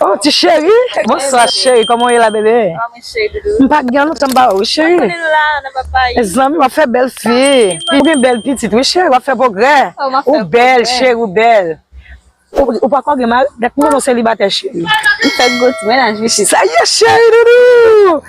Oh ti cheri bonswa cheri koman ou ye la bebe m pa gen lontan m pa wè ou cheri e zanmi wap fè bèl fi ou gen bèl pitit wi cheri wap fè pwogrè ou bèl cheri ou bèl ou pa ko gen mari dat m konnen w selibatè cheri sa ye cheri doudou.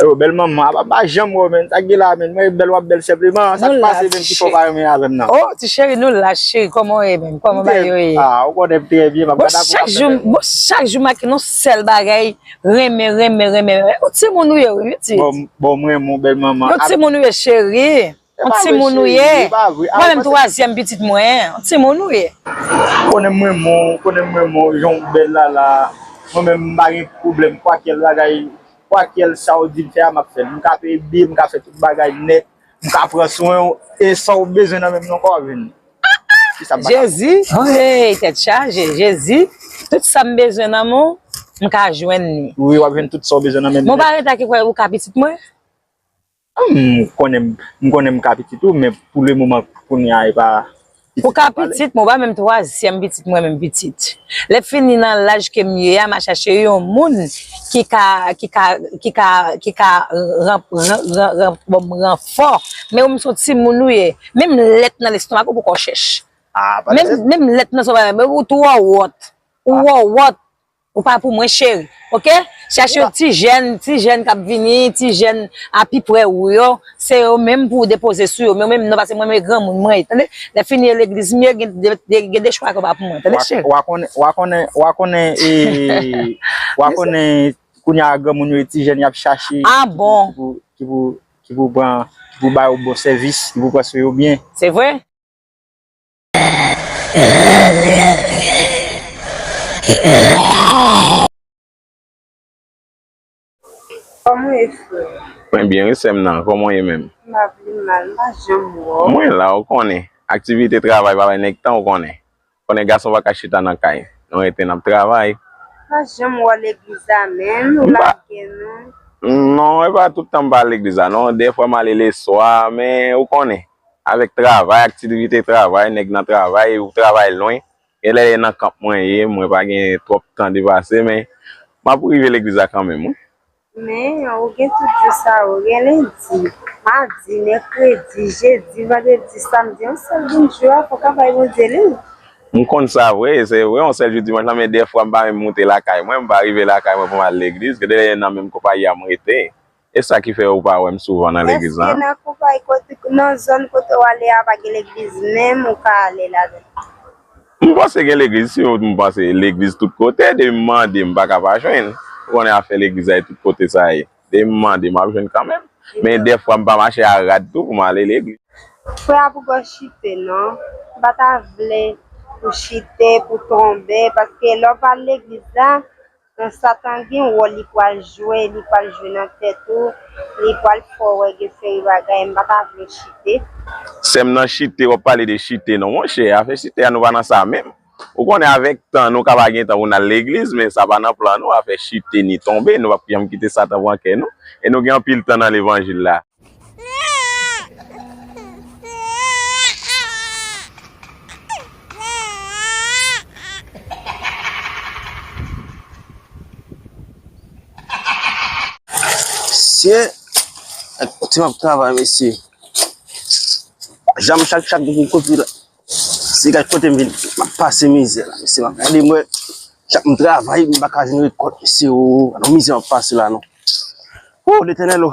Aywa bèl manman apa m pa janm wè w menn, sa k gen la a menn, mwen e bèl w ap bèl senpleman, sa k pase menn ki fè w pa renmen avè m nan? Oh ti cheri nou lach cheri kòman w ye menm, kòman bagay yo ye? Ah ou konnen m trè byen m ap gad apre w ap fè bèl. Bon chak jou m ak yon nou sèl bagay renmen renmen renmen, yon timoun ou ye wi pitit. Bon m renmen w bèl manman. Yon timoun ou ye cheri. On ti moun ou ye. Mwen menm twazyèm pitit mwen. On ti moun ou ye. Ou konnen m renmen w, ou konnen m renmen w jan w bèl la la. Mwen menm m pa gen pwoblèm kwakèl bagay, kwakèl sa w di m fè a m ap fè l. M ka peye biyè, m ka fè tout bagay nèt, m ka pran swen w e sa w bezwen nan men m nan ankò w ap jwenn li. Jezi! Hey! Tèt chaje! Jezi! Tout sa m bezwen nan men w, m ka jwenn li. Wi, w ap jwenn tout sa w bezwen nan men m nèt. Mwen pa rete ak li kwè ou ka pitit mwen? M konnen m konnen m ka pitit ou men pou le moman kounye a e pa pitit m pale. Ou ka pitit mwen, ou pa menm twazyèm pitit mwen menm pitit. Lè fini nan laj ke m ye a m a chache yon moun ki ka ki ka ki ka ki ka ran ran ran ban m ranfò men ou menm se yon timoun ou ye menm lèt nan lestomak ou poko chèch menm lèt nan menm ou twò wòt ou wòwòt. Ou pa pou mwen cheri ok. Chèche yon ti jèn, ti jèn k ap vini, ti jèn a pi pre ou yo. Se yo menm pou ou depoze sou yo. Men menm non pase mwen men granmoun mwen ye tande. Lè fini yo legliz m ye gen de chwa ke w pa pou mwen tande cheri. Wa konnen, wa konnen, wa konnen ee wa konnen kounye a granmoun yo e ti jèn y ap chache ki pou ki pou pran ki pou ba yo bon sèvis ki pou pran swen yo byen. Se vre. Koman ye frè? Mwen byen wi sèm nan, koman w ye menm? Mpa vle mal, mpa janm wè w. Mwen la ou konnen, aktivite travay pa bay nèg tan ou konnen. Ou konnen gason pa ka chita nan kay, nou rete nap travay. Mpa janm wè w legliz la menm, ou lage nou. Non, epa tout tan mpa legliz la non, dèfwa m ale leswa, men ou konnen. avèk travay, aktivite travay, nèg nan travay, ou travay lwen, gen lè e nan kanp mwen ye, mwen pa gen twòp tan depase, men m ap rive legliz la kanmenm wi. Men, ou gen tout jou sa yo, gen lendi, madi, mèkredi, jedi, vandredi, samdi, yon sèl jou jou a, fò w ka bay Bondye li w. M konn sa vre, se vre, yon sèl jou dimanch la, men dèfwa m pa menm moute lakay mwen, m pa rive lakay mwen pou m al legliz, gen lè e nan menm konpayi a m rete. E sa ki fè ou pa wèm souvan nan legliz la? Eske nan koupay kote nan zòn kote ou ale a pa gen legliz menm ou ka ale ladan? M panse gen legliz si yo m panse legliz tout kote depi m mande m pa ka pa jwenn ou konnen afè legliz la e tout kote sa ye depi m mande m ap jwenn kanmenm men dèfwa m pa mache a rad tou pou m ale legliz. Frè a pou gòj chite non. M pa ta vle pou chite, pou tonbe paske lè w pa al legliz la. Kan satan gen wòl li pwal jwe li pwal jwe nan tèt ou li pwal t fè w wè gen seri bagay m pa ta vle chite. Sèm nan chite wap pale de chite non monchè afè chite a nou pa nan sa menm ou konnen avèk tan nou ka pa gen tan pou nal legliz men sa pa nan plan nou afè chite ni tonbe nou pap janm kite satan pran kè nou e nou gen anpil tan nan levanjil la. Mesye ak ti map travay mesye Janm chak chak pou kote la. Se gad kote m vin map pase mizè la mesye map gade m wè chak m travay m paka jwenn rekòt mesye o gad on mizè map pase la non o letènèl o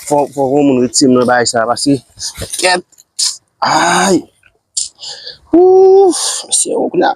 fò fò on moun retire m nan bagay sa paske kèt ayy ooh mesye o kounya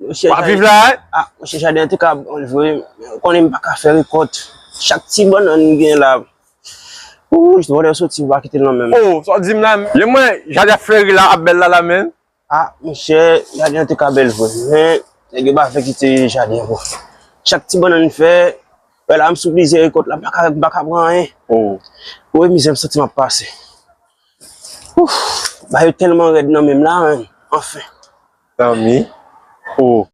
Wap viv la wi. A mouche jaden an tika bon vre ou konnen m paka fè rekòt chak ti bannann m gen la ooh j wòdè soti ou pa kite l nan menm. Oh sa w di m la menm mwen jaden ap fleri la ap bèl la la menm. A mouche jaden an tika bèl vre men nèg yo pa vle kite jaden an bon chak ti bannann m fè wè la m sou plizyè rekòt la m paka m paka pran anyen oh wè mizè m santi m ap pase ooh bagay yo tèlman rèd nan menm la anfen. zanmi oh.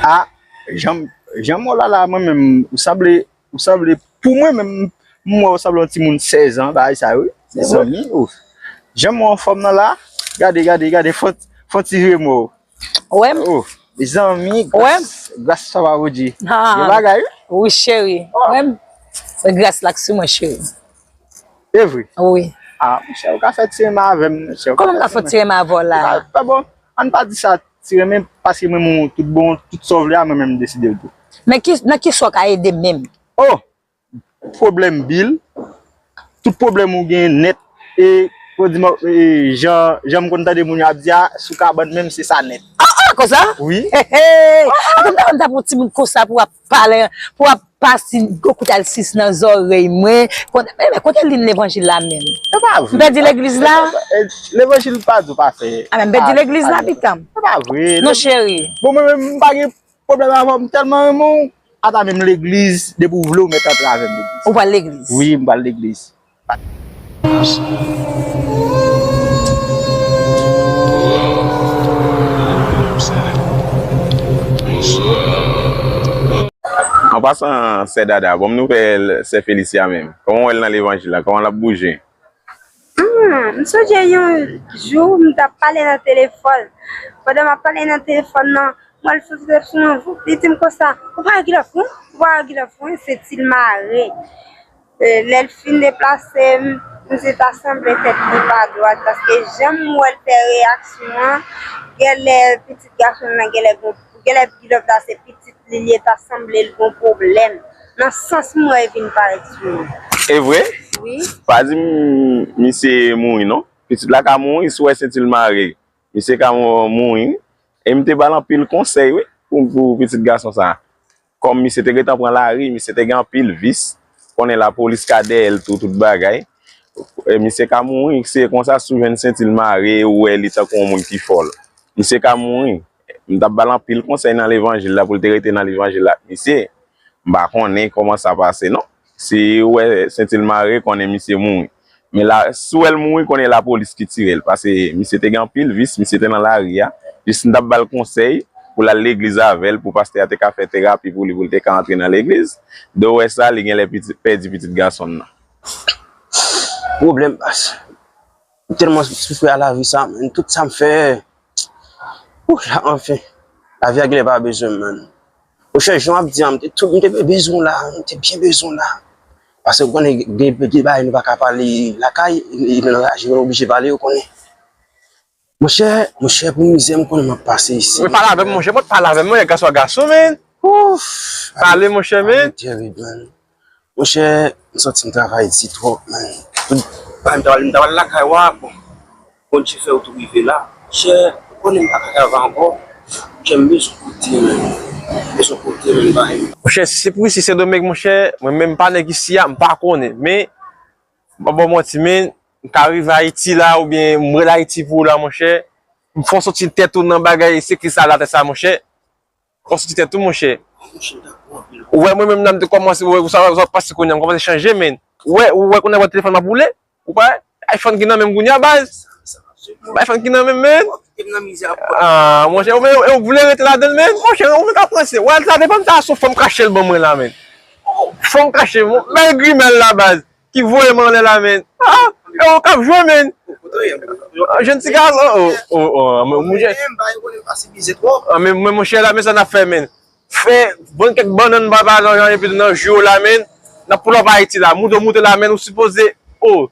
Ah janm janm oh lala mwen menm ou sanble Ou sanble pou mwen menm m wè ou sanble yon timoun 16 ans bagay sa yo wi mezanmi oh janm wè w anfòm nan la gade gade gade fon ti vire mwen wè w oh mezanmi gras papa Bondye gen bagay wi cheri wè m gras la k sou mwen cheri evre wi ah monchè ou ka fè ti renmen avè m monchè kòman m ka fè ti renmen avè w la ah bon ann pa di sa. Ti renmen paske mwen renmen w tout bon, tout sa w vle a mwen menm m deside l tou. Men nan ki sa w ka ede m menm? Oh! Pwoblèm bil, tout pwoblèm ou gen nèt e pou di m jan m konn tande moun yo ap di a sou kabann menm se sa nèt. Ah ah konsa? Wi. He he! Ata m ta konn ta pran w ti bout konsa pou w ap Pale pou ap pase gwo kout al sis nan zòrèy mwen. Kote liy levanjil la menm? Se pa vre. M pèdi legliz la? Levanjil pa di w pa fè. A men m pèdi legliz la pitanm. Se pa vre. Non cheri. Bon mwen menm m pa gen pwoblèm avè w m tèlman renmen w. Ata menm legliz depi w vle w mèt antre avè m legliz. Ou pral legliz? Wi m pral legliz. An pasan sè Dada banm nouvèl sè Felicia menm kòman ou wèl nan levanjil la kòman lap bouje. Ahh m sonje yon jou m tap pale nan telefòn pandan map pale nan telefòn nan m wè l sot soti sou mwen voup li dim konsa ou pa wè gilòf mwen ou pa wè gilòf mwen se ti l mare. Lè l fin deplase m, m di ta sanble tèt li pa dwat paske jan m wè l fè reyaksyon an, gèlè pitit gason l lan gèlè gon, gèlè Gilòk la se pitit li l ye ta sanble l gon pwoblèm nan sans m wè e vin parèt sou li. E vre? Wi. Pa di m misye mouri non. Pitit la ka mouri si w wè se ti l mare. Misye ka mouri wi. E m te ba l anpil konsèy wi pou pitit gason sa a. Kòm misye te gentan pran lari, misye te gen anpil vis, konnen lapolis ka dèyè l tou tout bagay. Misye ka mouri, se konsa si w jwenn senti l mare e w wè li tankou yon moun ki fòl. Misye ka mouri. M t ap ba l anpil konsèy nan levanjil la pou l te rete nan levanjil la ak misye. M pa konnen kòman sa pase non. Si ou wè sentil mare konnen misye mouri. Men la si ou wèl mouri konnen la polis ki tirel pase misye te gen anpil vis misye te nan lari a jis m tap bal konsèy poul al legliz avèl pou pastè a te ka fè terapi pou li poul te ka antre nan legliz de ou wè sa li genlè pèdi pitit gasonl nan. Pwoblèm pastè M telman soufri a lavi sa man tout sam fè Ooh la anfen lavi a genlè pa bezwen m man Rochelle jan wap di an m te tou m te bezwen w la m te byen bezwen w la pase ou konnen gen de bagay nou paka pale lakay e nan la je nou oblije pale ou konnen monchè monchè pou mizè m konnen map pase isi Mwen pale avè m monchè mwen pale avè m monchè gason a gason man Ooh pale monchè man Lavi tèrib man. Monchè m santi m travay di twòp menn tout bagay m ta pral m ta pral lakay wa bon Bondye fè ou tou rive la chè ou konnen m pa ka travay ankò chè m bezwen kote menn m bezwen kote menn bay m. Monchè si se pou isi sendomeng monchè mwen menm m pa nèg isi a m pa konnen men m pap ba w manti menn m ka rive ayiti la oubyen m rele ayiti pou ou la monchè m fè w santi tèt ou nan bagay sekirite sa latè sa monchè Wap soti tèt ou monchè. Ou wè mwen menm la m te kòmanse wè sa wap pase kounya m kòmanse chanje menn. Ou wè ou wè kounya wè telefòn m ap woule ou pa wè iPhone ki nan menm kounya baz iPhone ki nan menm menn aah monchè ou menm ou vle rete ladann menn monchè ou menm kap ranse wè sa depanm ta sou fòm kache l ban mwen la menn fòm kache bèl grimèl la baz Ki voye m anlè la menn. Ah ew kap jwe menn. Jèn ti gason oh oh oh an men monchè. An men monchè la men sa nap fè menn. Fè vann kèk bannann bay paran yo epi nan jou yo la menn. Nap pull up Ayiti la. Moute w moute la menn ou sipoze oh.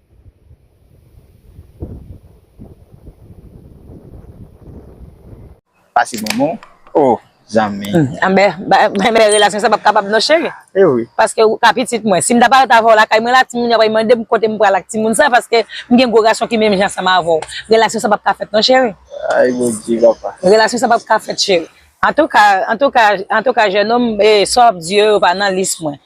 Pase bon bon oh zanmi. Anbè relasyon sa pap kapab non cheri. Paske ou ka pitit mwen. Sim ta paret avèw lakay mwen la timoun yo ap vin mandem kotem pral ak timoun sa paske mgen gwo gason ki menm jan ansanm avèw. Relasyon sa pap ka fèt non cheri. Ayy bondye papa. Relasyon sa pap ka fèt cheri. Antouka antouka antouka jènonm sa wap di yo yo pa nan lis mwen.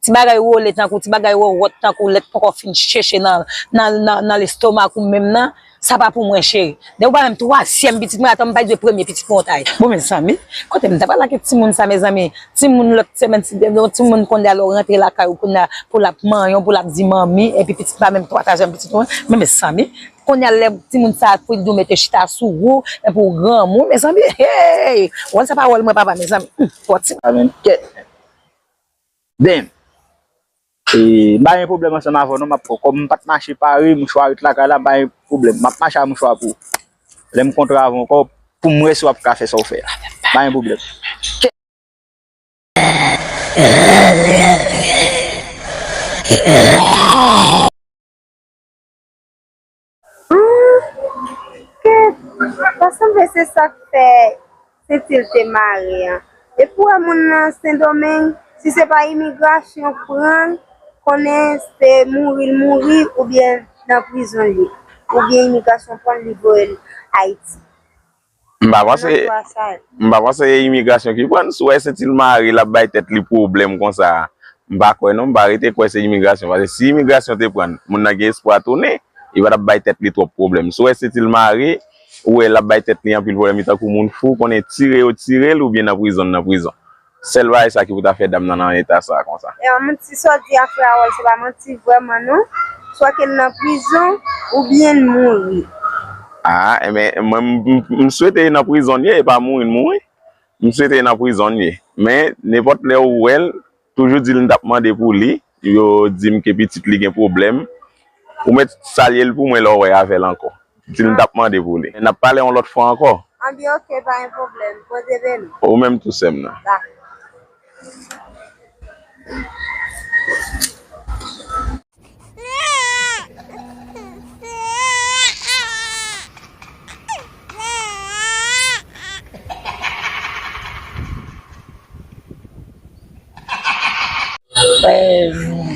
Ti bagay wole tankou ti bagay wòwòt tankou lèt poko fin cheche nan lestomak ou menm nan sa pa pou mwen cheri depi ou pa banm twazyèm pitit mwen atanm bay de premye pitit mwen ou ta bon mezanmi kotem ta pral ak timoun sa mezanmi timoun lòt semèn yon timoun konnya lèw rantre lakay ou konnya pou lap manyenw pou lap di manmi epi pitit pa menm twazyèm pitit mwen men mezanmi konnya lè timoun sa fouti diw mete chita sou ou epi ou granmoun mezanmi heyy wòl sa pa wòl mwen papa mezanmi humm fòti Damn! E mpa gen pwoblèm ansanm avèw non map kòm mpat mache pare mouchwa ret lakay la mpa gen pwoblèm map mache a mouchwa pou lèm kontre avèw ankò poum wè si wap ka fè saw fè a mpa gen pwoblèm. Humm ta sanble se sak fè sentil te mare an depi ou wè moun nan sendomeng si se pa imigrasyon k pranl konnen se mouri l mouri oubyen nan prizon l ye oubyen imigrasyon pranl li voyel ayiti. M pa panse M pa panse e imigrasyon ki prann sou e se til mare lap bay tèt li pwoblèm konsa a m pa kwè non m pa rete kwè se imigrasyon pase si imigrasyon te prann moun nan gen espwa tounen li patap bay tèt li twòp pwoblèm sou e se til mare ou e lap bay tèt li anpil pwoblèm li tankou moun fou konnen tire yo tirel oubyen nan prizon nan prizon Sel bagay sa ki pou ta fè dam nan nan eta sa konsa. E an manti sa w di a frè Harold se pa manti vrèman non. Swa ke l nan prizon ou byen l mouri. Aa enben mwen m swete li nan prizon l ye e pa mouri l mouri. M swete li nan prizon l ye. Men nenpòt lè ou wè l toujou di l m t ap mande pou li. Yo dim ke pitit li gen pwoblèm. Ou mèt salye l pou mwen lè w wè avè l ankò. Di l m t ap mande pou li. N ap pale yon lòt fwa ankò. An bi ok, pa gen pwoblèm. Bondye beni. Ou menm tou sè m nan. Dakò.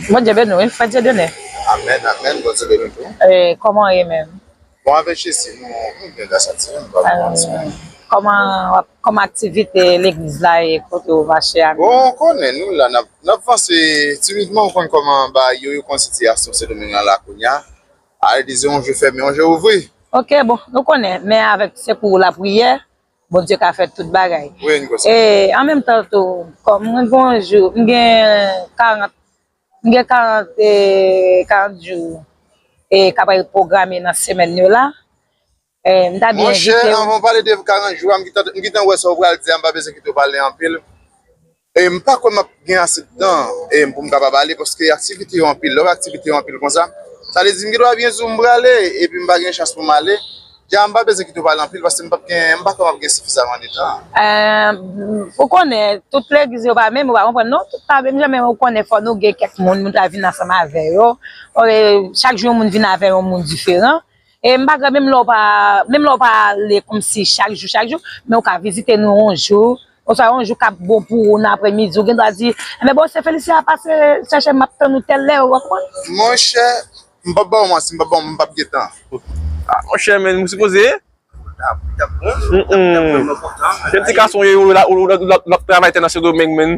Bondye beni w frè Dieudonné. Amen amen Bondye beni tou. Koman w ye menm. Bon avèk Jezi nou byen gras a Dye nou pa vin manti non. Koman wap koman aktivite legliz la ye kote w mache a. Bon ou konnen nou la nap nap vanse timidman ou konn koman bagay yo yo konn sitiyasyon sendomeng lan la kounya a yo di se yon je fèmen yon je ouvri. Ok bon nou konnen men avèk sekou lapriyè Bondye ka fè tout bagay. E an menm tan tou, kòm mwen gen yon jou, m gen 40, m gen 40, 40 jou e k ap al pwograme nan semèn yo la. M ta byen envite ou. Monchè, anvan w pale de 40 jou a, m gentan wè sa w pral di a, m pa bezwen kite w pale anpil. E m pa kwè m ap gen ase tan e pou m kapab ale paske aktivite yo anpil. Lò aktivite yo anpil konsa, sa vle di m gen dwa gen jou m prale epi m pa gen chans pou m ale. Dja m pa bezwen kite w pale anpil paske m p ap gen, m pa kwè m ap gen sifizaman de tan. Eh, ou konnen, tout legliz yo pa menm, ou pa konprann non, tout pa menm jan men ou konnen fò nou gen kèk moun, moun ta vin ansanm avè yo, chak jou yon moun vin avè yon moun diferan. M pa grèv menm lè w pa ale kòmsi chak jou chak jou, men ou ka vizite nou yon jou, oswa yon jou k ap bon pou ou nan aprèmidi, ou gen dwa di, Enben, bon, se Felicia, pase chèche m, m ap tann ou tèl lè, ou konprann? Monchè, m p ap ba w manti, m p ap ba w, m p ap gen tan. A, monchè, men, m sipoze. Ou t ap bon, ou t ap vrèman kontan. Gen ti gason w ye, ou l ap travay tè nan Sendomeng, men.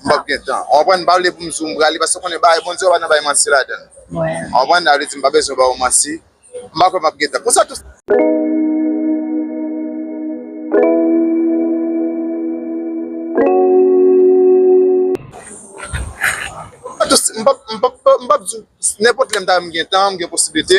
m pap gen tan ou konprann m pa vle pou m di w m prale paske m konnen bagay Bondye yo pa nan bay manti ladan l ou konprann sa vle di m pa bezwen ba ou manti m pa kwè m ap gen tan konsa tou. M pap di w nenpòt lè m ta wè m gen tan m gen posiblite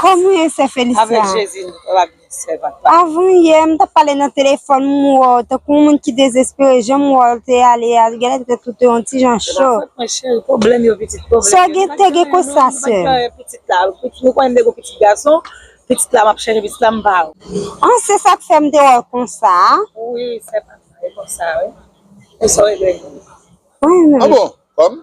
Konbyen sè Felicia? Avan yè m tap pale nan telefòn m wè w tankou yon moun ki dezespere jan m wè w te ale a genlè tèt ou te yon ti jan cho. Sè w gen te gen konsa sè? An se sak fè m te wè w konsa a? An bon?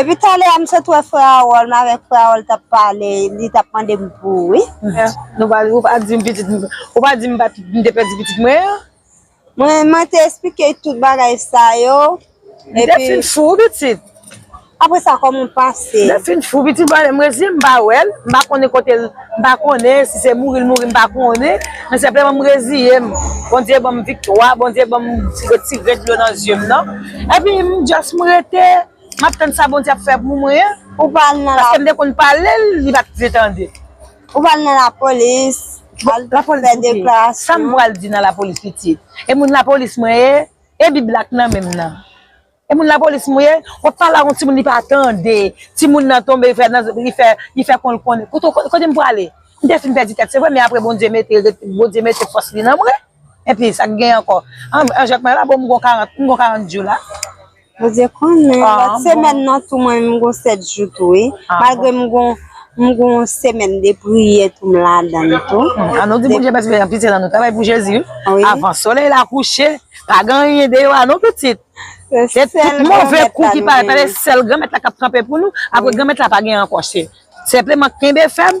Epi talè a m sot wè frè Harold, m avèk frè Harold t ap pale, li t ap mande m pou ou wi. Ou pa di m pitit, ou pa di m m te pèdi pitit mwen an? Mwen te esplike l tout bagay sa yo. Li te fin fou wi pitit. Apre sa kòman w pase? Li te fin fou pitit. Mwen reziyen m pa wè l. M pa konnen kote l. M pa konnen si se mouri l mouri m pa konnen. Men senpleman m reziyen m. Bondye ban m viktwa. Bondye ban m retire dlo nan zye m nan. Epi m just m rete. M ap tann sa Bondye ap fè pou mwen. Ou pa al nan lakou? Paske m te konn pale l. Li pa t vle tande. Ou pral nan la polis. Al fè deklarasyon. Sa m pral di nan la polis pitit. E moun la polis mwen ye. E bib la k nan menm nan. E moun la polis mwen ye. Wap pale ak yon timoun li pa tande. Timoun nan tonbe li fè konl konnen. Kote m prale. M te fin pèdi tèt se vre men apre Bondye mete fòs li nan mwen. Epi sa k gen ankò. An jwèt mwen la bon m gon 40 jou la. Bondye konnen, lòt semèn nan tou mwen menm m gon 7 jou tou wi, malgre m gon m gon semèn de priyè tou m ladan l tou. An nou di Bondye mèsi paske anpil sèlan nou travay pou Jezi wi, avan solèy la kouche pa gen anyen deyò a non pitit, se tout move kou ki pale, se sèl Granmèt la k ap kanpe pou nou, aprè Granmèt la pa gen ankò, se senpleman kenbe fèm,